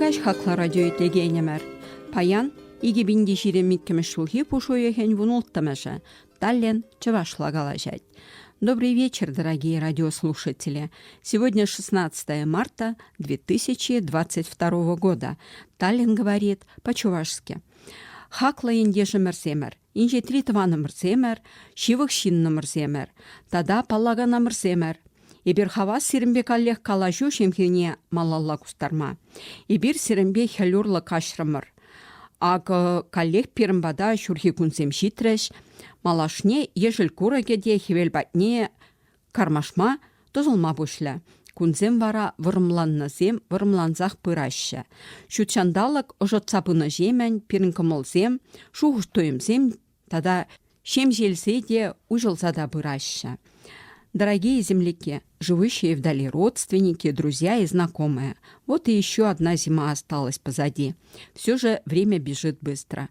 Ыркаҫ хаклӑ радио итлекенӗмӗр. Паян 2022 ҫулхи пуш уйӑхӗн вунулттӑмӗшӗ. Таллин чӑвашла калаҫать. Добрый вечер, дорогие радиослушатели. Сегодня 16 марта 2022 года. Таллин говорит по-чувашски. Хаклӑ ентешӗмӗрсемӗр, инҫетри тӑванӑмӑрсемӗр, ҫывӑх ҫыннӑмӑрсемӗр тата паллаканӑмӑрсемӗр! Эпир хавас сирӗнпе каллех калаҫу ҫемьене малалла кустарма. Эпир сирӗнпе хӗл урлӑ каҫрӑмӑр. Акӑ, каллех пирӗн пата ҫурхи кунсем ҫитрӗҫ. Малашне ешӗл курӑкӗ те хӗвел патне Кармашма тӑсӑлма пуҫлӗ. Кунсем вара вӑрӑмланнӑсем вӑрӑмлансах пыраҫҫӗ. Ҫутҫанталӑк ӑшӑтса пынӑҫемӗн пирӗн кӑмӑлсем, шухӑш-туйӑмсем тата ҫемҫелсе те, уҫӑлса та пыраҫҫӗ. Дорогие земляки, живущие вдали родственники, друзья и знакомые, вот и еще одна зима осталась позади. Все же время бежит быстро.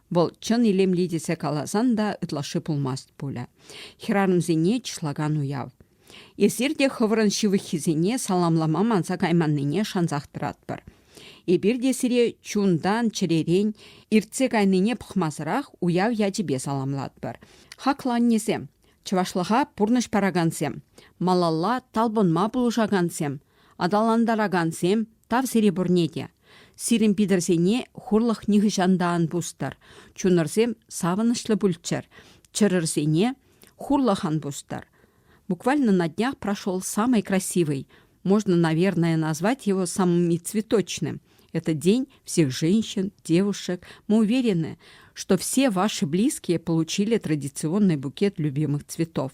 Вӑл чӑн илемли тесе каласан та ытлашши пулмасть пулӗ. Хӗрарӑмсене чыслакан уяв. Эсир те хӑвӑрӑн ҫывӑххисене саламлама манса кайманнине шансах тӑратпӑр. Эпир те сире чунтан, чӗререн иртсе кайнине пӑхмасӑрах уяв ячӗпе саламлатпӑр. Хаклӑ аннесем, чӑвашлӑха пурнӑҫ паракансем, малалла талпӑнма пулӑшакансем, Аталантаракансем тав сире пурне те. Сирӗн Питӗрсене хурлӑх нихӑҫан та ан пустӑр. Чунӑрсем савӑнӑҫлӑ пулччӑр. Чӗрӗрсене хурлӑх ан пустӑр. Буквально на днях прошел самый красивый, можно, наверное, назвать его самыми цветочным. Это день всех женщин, девушек. Мы уверены, что все ваши близкие получили традиционный букет любимых цветов.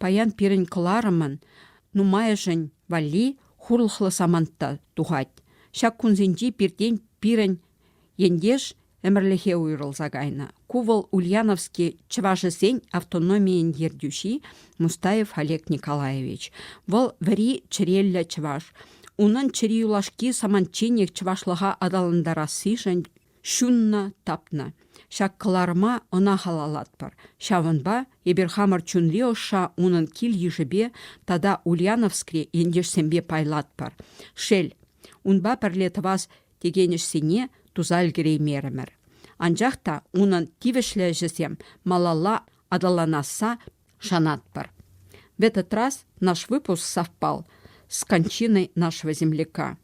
Паян пирӗн кӑларӑмӑн нумайӑшӗн валли хурлӑхлӑ самант та тухать. Ҫак кунсенче пиртен пирӗн ентеш ӗмӗрлӗхе уйрӑлса кайнӑ. Ку вӑл Ульяновски чӑвашӗсен автономийӗн ертӳҫи Мустаев Олег Николаевич. Вӑл вӗри чӗреллӗ чӑваш. Унӑн чӗри юлашки самантченех чӑвашлӑха аталантарассишӗн ҫуннӑ, тапнӑ. Ҫак кӑларӑма ӑна халаллатпӑр. Ҫавӑнпа эпир хамӑр чунри ӑшша унӑн кил-йышӗпе тата Ульяновскри ентешсемпе пайлатпӑр. Шел, унпа пӗрле тӑвас текен ӗҫсене туса ӗлкӗреймерӗмӗр. Анчах та унӑн тивӗҫлӗ ӗҫӗсем малалла аталанасса шанатпӑр. В этот раз наш выпуск совпал с кончиной нашего земляка.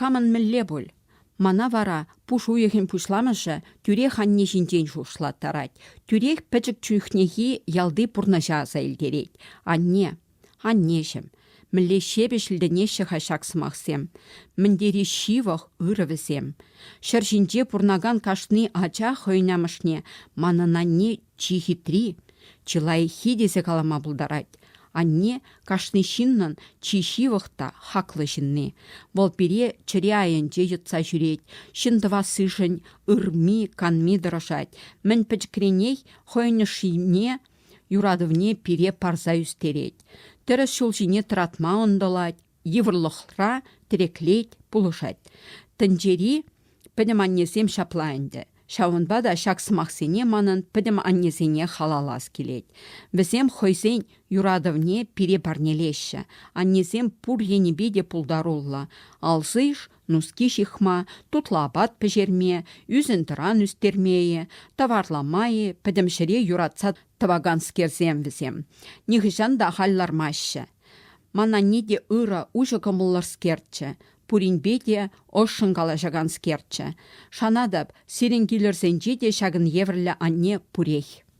Камӑн мӗнле пуль? Мана вара пуш уйӑхӗн пуҫламӑшӗ тӳрех анне ҫинчен шухӑшлаттарать. Тӳрех пӗчӗк чухнехи ялти пурнӑҫа аса илтерет. Анне, Аннеҫӗм, мӗнле ҫепӗҫ лӗнеҫҫӗ-ха ҫак сӑмахсем, мӗн тери ҫывӑх ырӑ вӗсем. Ҫӗр ҫинче пурӑнакан кашни ача хӑйӗн амӑшне «манӑн анне чи хитри, чи лайӑххи» тесе калама пултарать. Анне кашни ҫыннӑн чи ҫывӑх та хаклӑ ҫынни. Вӑл пире чӗре айӗнче йӑтса ҫӳрет, ҫын тӑвассишӗн ырми, канми тӑрӑшать. Мӗн пӗчӗкренех хӑйӗн ӑшшине юратӑвне пире парса ӳстерет, тӗрӗс ҫул ҫине тӑратма ӑнтӑлать, йывӑрлӑхра тӗреклет, пулӑшать. Тӗнчери пӗтӗм аннесем ҫапла ӗнтӗ. Ҫавӑнпа та ҫак сӑмахсене манӑн пӗтӗм аннесене халаллас килет. Вӗсем хӑйсен юратӑвне пире парнелеҫҫӗ. Аннесем пур енӗпе те пултаруллӑ, алсиш нуски ҫыхма, тутлӑ апат пӗҫерме, ӳсентӑран ӳстермейӗ, тӑварлама-и, пӗтӗм ҫӗре юратса тӑваканскерсем вӗсем, нихӑҫан та халь лармаҫҫӗ. Ман анне те ырӑ, уҫӑ кӑмӑллӑскерччӗ, пуринпе те ӑшшӑн калаҫаканскерччӗ. Шанатӑп, сирӗн килӗрсенче те ҫакӑн евӗрлӗ анне пурех.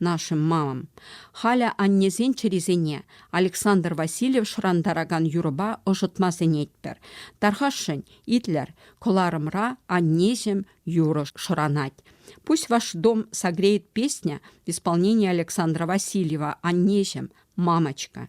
нашим мамам. Халӗ аннесен чӗрисене Александр Васильев шӑрантаракан юрӑпа ӑшӑтма сӗнетпӗр. Тархасшӑн, Итлӗр, кӑларӑмра Аннеҫӗм юрӑ шӑранать. Пусть ваш дом согреет песня в исполнении Александра Васильева «Аннеҫӗм, мамочка».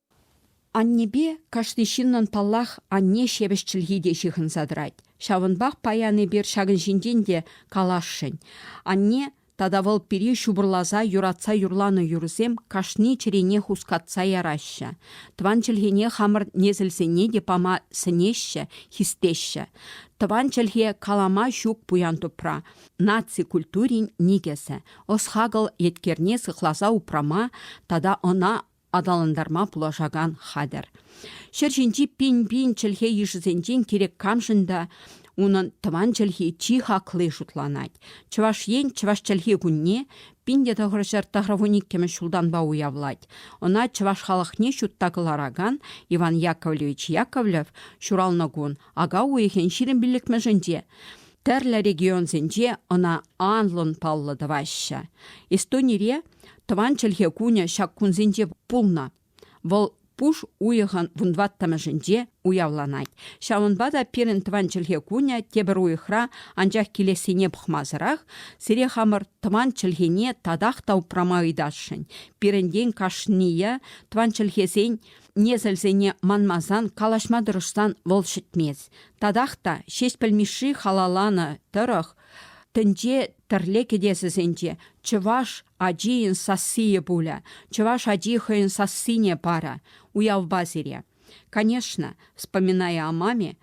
Аннепе кашни ҫыннӑн, паллах, анне ҫепӗҫ чӗлхи те ҫыхӑнса тӑрать. Ҫавӑнпах паян эпир ҫакӑн ҫинчен те каласшӑн. Анне тата вӑл пире ҫупӑрласа юратса юрланӑ юрӑсем кашни чӗрене хускатса яраҫҫӗ. Тӑван чӗлхене хамӑр несӗлсене те пама сӗнеҫҫӗ, хистеҫҫӗ. Тӑван чӗлхе калама ҫук пуян тупра. Наци культурин никӗсӗ. Ӑс-хакӑл еткерне сыхласа упрама тата ӑна аталантарма пулӑшакан хатӗр. Ҫӗр ҫинчи пин-пин чӗлхе йышӗсенчен кирек камшӑн та унӑн тӑван чӗлхи чи хакли шутланать. Чӑваш Ен Чӑваш чӗлхи кунне пин тӑхӑрҫӗр тӑхӑрвун иккӗмӗш ҫултанпа уявлать. Ӑна чӑваш халӑхне ҫутта кӑларакан Иван Яковлевич Яковлев ҫуралнӑ кун ака уйӑхӗн ҫирӗм пиллӗкмӗшӗнче Тӗрлӗ регионсенче ӑна анлӑн паллӑ тӑваҫҫӗ. Эстонире тӑван чӗлхе кунӗ ҫак кунсенче пулнӑ. Вӑл пуш уйӑхӑн вунваттӑмӗшӗнче уявланать. Ҫавӑнпа та пирӗн тӑван чӗлхе кунӗ тепӗр уйӑхра анчах килессине пӑхмасӑрах сире хамӑр тӑван чӗлхене татах та упрама ыйтасшӑн. Пирӗнтен кашнийӗ тӑван чӗлхесен несӗлсене манмасан, калаҫма тӑрӑшсан вӑл ҫӗтмест. Татах та Ҫеҫпӗл Мишши халалланӑ тӑрӑх тӗнче тӗрле кӗтесӗсенче чӑваш ачийӗн сассийӗ пулӗ. Чӑваш ачи хӑйӗн сассине парӗ уявпа сире. Конечно, вспоминая о маме,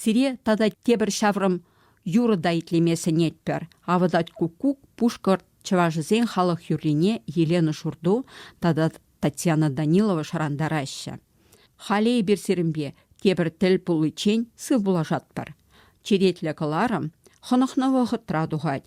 Сире тата тепӗр ҫаврӑм юрӑ та итлеме сӗнетпӗр, авӑтать Куккук пушкӑрт чӑвашӗсен халӑх юррине Елена Шурду тата Татьяна Данилова шӑрантараҫҫӗ. Халӗ эпир сирӗнпе тепӗр тӗл пуличчен сыв пулашатпӑр. Черетлӗ кӑларӑм хӑнӑхнӑ вӑхӑтра тухать,